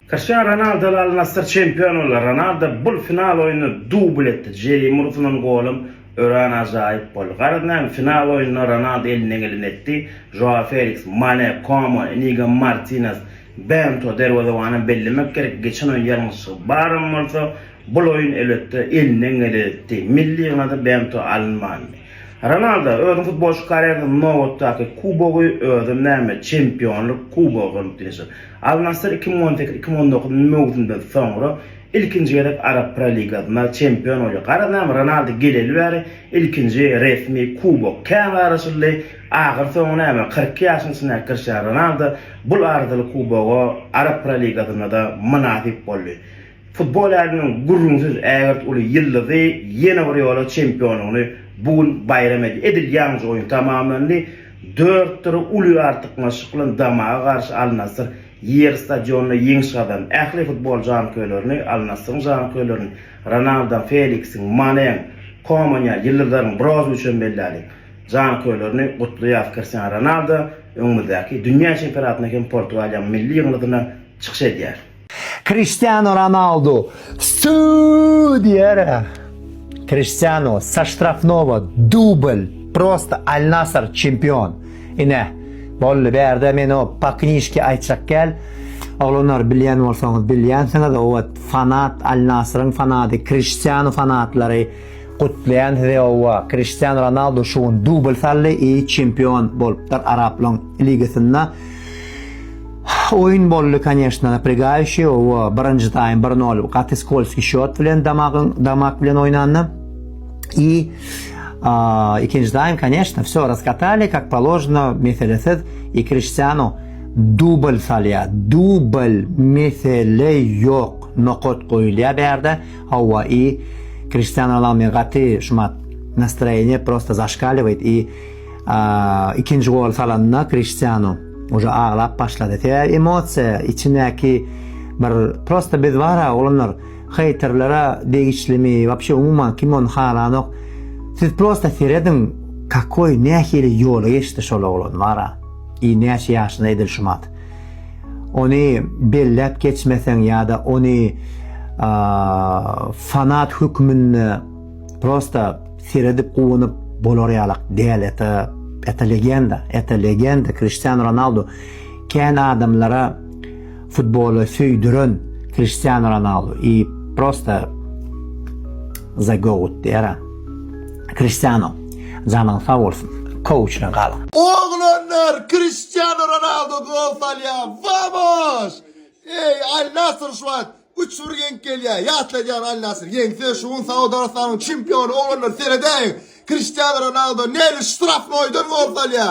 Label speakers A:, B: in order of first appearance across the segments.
A: Kriştianu Ronaldo we Al-Nassr çempion boldy. Ronaldo bul final oýunda dubl etdi. Jeým ursulan golum örän ajaýyp boldy. Garaz näme, final oýunda Ronaldo elinden geleni etdi. Žoao Feliks, Mane, Koman, Inigo Martinez, Bento derwezewanam bellemek gerek, geçen oýun ýalňyşlygy baram bolsa, bul oýun elbetde elinden geleni etdi. Milli ýygynada Bento alynmandy. Ronaldo özüniň futbolçy karýerasynyň nobatdaky kubogy özem näme, Çempionlyk kubogy bolup bilişer. Al Nassr iki müň on sekiz, iki müň on dokuz möwsümden soňra ilkinji gezek Arap Pro Ligasynda çempion bolýar. Garaz näme, Ronaldo geleli bäri ilkinji resmi kubok. Kän garaşyldy, ahyr soňy näme, kyrk iki ýaşyň içindäki Kriştianu Ronaldo bul arzyly kuboga Arap Pro Ligasynda-da mynasyp boldy. Futbol äleminiň gürrüňsiz ägirt uly ýyldyzy ýene bir ýola çempionlygyny bu gün baýram edýär. Edil ýaňja oýun tamamlandy. Dört bir uly artykmaçlyk bilen Damaga garşy Al-Nasr ýerli stadionynda ýeňiş gazandy. Ähli futbol janköýerlerini, Al-Nasryň janköýerlerini, Ronaldoň, Feliksiň, Maneň, Koman ýaly ýyldyzlaryň, Brozowiçem belläliň, janköýerlerini gutlaýarys. Kristiano Ronaldo öňümizdäki dünýä çempionatynda hem Portugaliýanyň milli ýygyndysyna çykyş edýär. Kriştianu
B: Ronaldu süuuu diýerä. Kriştianu sa ştrafnowa dubl prosta Al Nasr çempion. Ine boldy bärde men o pa knişki aýtjak gel. Oglanlar bilýän bolsaňyz bilýänsiňiz owat fanat Al Nasryň fanady Kriştianu fanatlary Gutlaýan sizi owwa Kriştian Ronaldu şu gün dubl saldy i çempion bolupdyr Araplaň ligasynda Oýun boldy koneşno napregaýuşi owwa birinji taým bir nol gaty skolski şot bilen damagyň damak bilen oýnanda i ikinji taým koneşno wsё raskatali kak položno meselesiz i Kriştiano dubl salýa dubl mesele ýok nokat goýulýa bärde Howwa i Kriştiano Ronaldo men gaty şumat nastroýeniýe prosta zaşkaliwayt i ikinji goly salanda Kriştiano uje aglap başlady sebäbi emosiýa içindäki bir prosta biz bara oglanlar heýterlere degişlimi wapşe umuman kim ony halanok siz prosta serediň kakoý nähili ýoly geçdi şol oglan bara i näçe ýaşynda edil şumat. Ony belläp geçmeseň ýa-da ony fanat hökmünde prosta seredip guwanyp bolar ýalak däl eta eta legenda eta legenda Kristiano Ronaldo kän adamlara futboly söýdüren Kristiano Ronaldo i prosta za goat dera. Kriştiano janyň sag bolsun kouçdan galyň. Oglanlar
C: Kriştiano Ronaldo gol salýa vamos! Eý Al Nassr şu wagt üç bir ýeňip gelýä ýatladýar Al Nassr ýeňse şu gün Saud Arabystanyň çempiony oglanlar seredäýiň Kriştiano Ronaldo nädip ştrafnoýdan gol salýa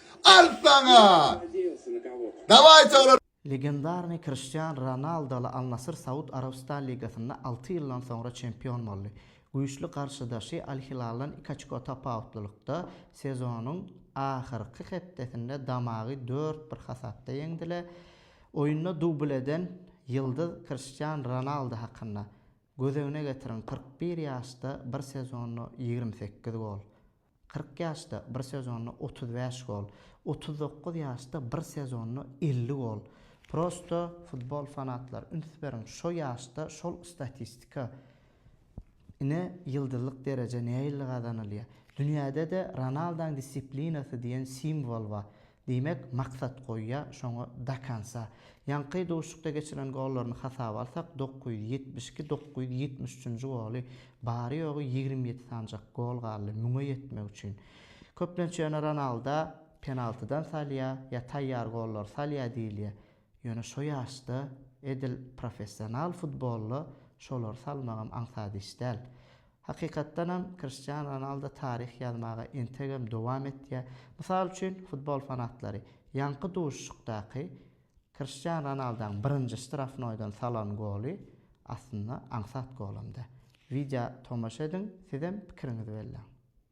C: Al saňa! Dawai çagalar! Legendarnyý
D: Kriştian Ronaldoly Al-Nasr Saud Arabystan ligasynda alty ýyldan soňra çempion boldy. Güýçli garşydaşy Al-Hilaldan iki oçko tapawutlylykda sezonyň ahyrky hepdesinde Damagy dört bir hasapda ýeňdiler. Oýunda dubl eden ýyldyz Kriştian Ronaldo hakynda, Gözegine getiriň, kyrk bir ýaşda bir sezonda ýigrimi sekiz gol. Kyrk ýaşda bir sezonda otuz bäş gol, otuz dokuz ýaşda bir sezonda elli gol. Prosto futbol fanatlary üns beriň şo ýaşda şol statistika. Ine ýyldyzlyk dereje nähilli gazanylýar. Dünýäde-de Ronaldaň dissiplinasy diýen simwol bar. Diýmek, maksat goýýa, şoňa dakansa. Ýaňky duşuşykda geçiren gollaryny hasaba alsak, dokuz ýüz ýetmiş iki, dokuz ýüz ýetmiş üçünji goly, bary-ýogy ýigrimi ýedi sanjak gol galdy müňe ýetmek üçin. Köplenç ýöne Ronalda penaltydan salýa ýa taýýar gollary salýa diýilýä. Ýöne şo ýaşda edil professional futbolda şolary salmagam aňsat iş däl. Hakykatdanam, Kriştianu Ronaldo taryh ýazmaga entegem dowam etýär. Mysal üçin, futbol fanatlary ýaňky duşuşykdaky Kriştianu Ronaldaň birinji ştrafnoýdan salan goly aslynda aňsat golam-da. Wideo tomaşa ediň, sizem pikiriňizi belläň.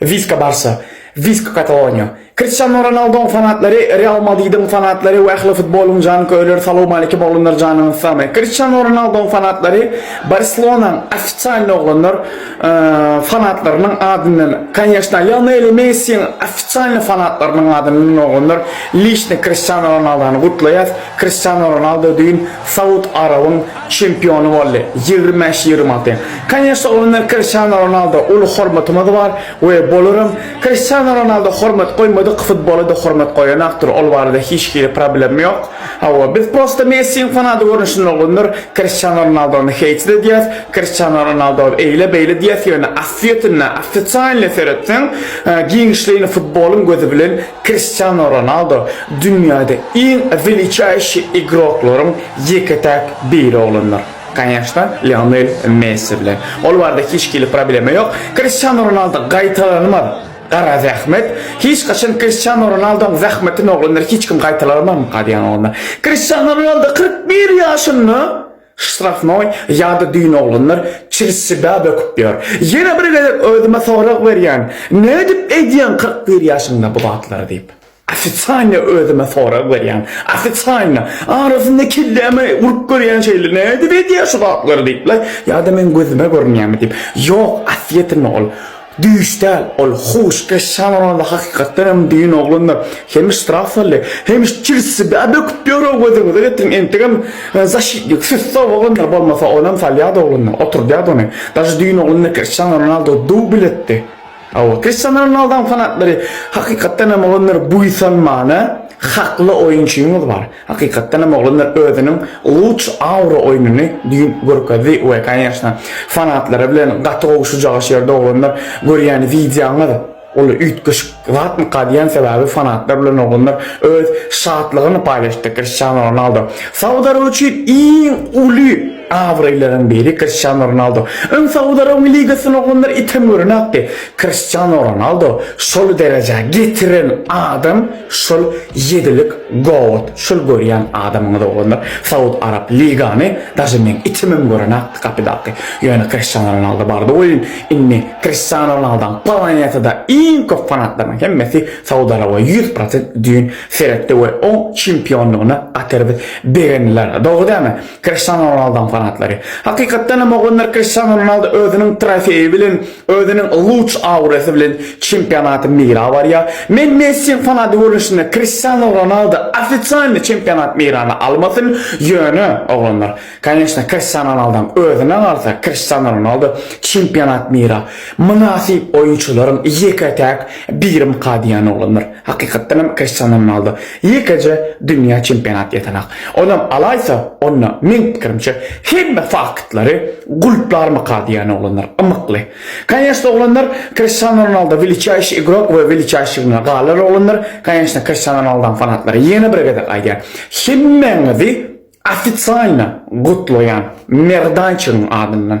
E: Wiska Barsa, Wisk Kataloniýa. Kriştiano Ronaldoň fanatlary, Real Madridiň fanatlary we ähli futbolyň janköýerleri salowmalikim oglanlar janyňyz sagmy. Kriştiano Ronaldoň fanatlary Barselonaň ofisalny oglanlar fanatlarynyň adyndan konýeşna Lionel Messiň ofisalny fanatlarynyň adyndan oglanlar lişni Kriştiano Ronaldany gutlaýas. Kriştiano Ronaldo düýn Saud Arabyň çempiony boldy, ýigrimi bäş, ýigrimi alty. Konýeşne, oňa meniň Kriştiano Ronaldo uly hormatymyz bar we bolaram. Kriştiano Ronaldo hormat goýmadyk futbola-da hormat goýanakdyr, ol barada hiç hili problem ýok. Hawa, biz prosta Messiň fanaty görnüşinde bolgundyr, Kriştiano Ronaldony heýt-et edýäs, Kriştiano Ronaldo eýle-beýle diýýäs, ýöne aslyýetinde, ofisialnyý seretseň, giňişleýin futbolyň gözi bilen Kriştiano Ronaldo dünýäde iň weliçaýşi igroklaryň Ýeke-täk biri oglandyr. Kanyýaşna, Lionel Messi bilen. Ol barada hiç hili problema ýok. Kristiano Ronaldo gaýtalanmaz. Gara zähmet. Hiç haçan Kristiano Ronaldoň zähmetini oglandyr hiç kim gaýtalanmazmyka diýýän oglandyr. Kristiano Ronaldo kyrk bir ýaşynda ştrafnoý ýa-da düýn oglandyr çilsibä böküp ýör. Ýene bir gezek özüme sorag berýän, nädip edýäň kyrk bir ýaşyňda bu zatlary diýip. Ofisialno özüme sorag berýän. Ofisialno. Arasynda kelläme urup görýän şeýle. Nädip edýär şu zatlary diýip-le. Ýa-da meň gözüme görünýärmi diýip. Ýok, aslyýetinde ol. Düýş däl, ol huşkeş şamandy hakykatdan hem düýn oglandyr. Hemiş strah saldy. Hemiş çirsi bä böküp ýör-ow gözüňize getiriň. Entegem zaşitnik, süssow oglandyr. Bolmasa onam salýardy ogluny. Oturdýardy ony. Daže düýn ogluny Kriştianu Ronaldo dubl etdi. Hawa, Kristiano Ronaldoň fanatlary hakykatdan hem oglanlar buýsanmana, hakly oýunçyňyz bar. Hakykatdan hem oglanlar özüniň Luç Aura oýnuny düýn görkezdi we kanyýaşna fanatlara bilen gaty gowy şujagaz ýerde oglanlar görýän wideoňyz ol üýtgeşik zatmyka diýýän sebäbi fanatlar bilen oglanlar öz şatlygyny paýlaşdy Kristiano Ronaldo Sawd Araby üçin iň uly Abraýlaryň biri Kriştiano Ronaldo. Öň Saud Arabyň ligasyny oglanlar item görenokdy. Kriştiano Ronaldo şol derejä getiren adam şol ýedilik goat. Şol görýän adamyňyz oglanlar Saud Arap ligany daže meň itimem görenokdy kapydaky. Ýöne Kriştiano Ronaldo bardy oýun. Indi Kriştiano Ronaldoň planetada iň köp fanatlarynyň hemmesi Saud Araba ýüz prosent düýn seretdi we oň çempionlygyna gatyr bir begendiler. Dogry dälmi? Kriştianu Ronaldoň fanatlary. Hakykatdan hem oglanlar Kriştianu Ronaldo özüniň trofeýi bilen, özüniň luç aurasy bilen çempionaty meýra barýar. Men Messiň fanaty görnüşinde Kriştianu Ronaldo ofisialny çempionat meýrana almasyn, ýöne, oglanlar, koneçna, Kriştianu Ronaldoň özüne galsa, Kriştianu Ronaldo çempionat meýra mynasyp oýunçylaryň ýeke-täk birimka diýýän oglanlar. Hakykatdan hem Kristiano Ronaldo ýekeje dünýä çempionat ýatanok. Onam alaýsa, onda, meň pikirimçe, hemme faktlary gulplarmyka diýýän oglanlar ymykly. Kanyesno oglanlar Kristiano Ronaldo weliçaýşi igrok we weliçaýşiligine galar oglanlar, kanyesno Kristiano Ronaldoň fanatlary ýene bir gezek aýdýan, hemmäňizi ofisialno gutlaýan Merdançygyň adyndan.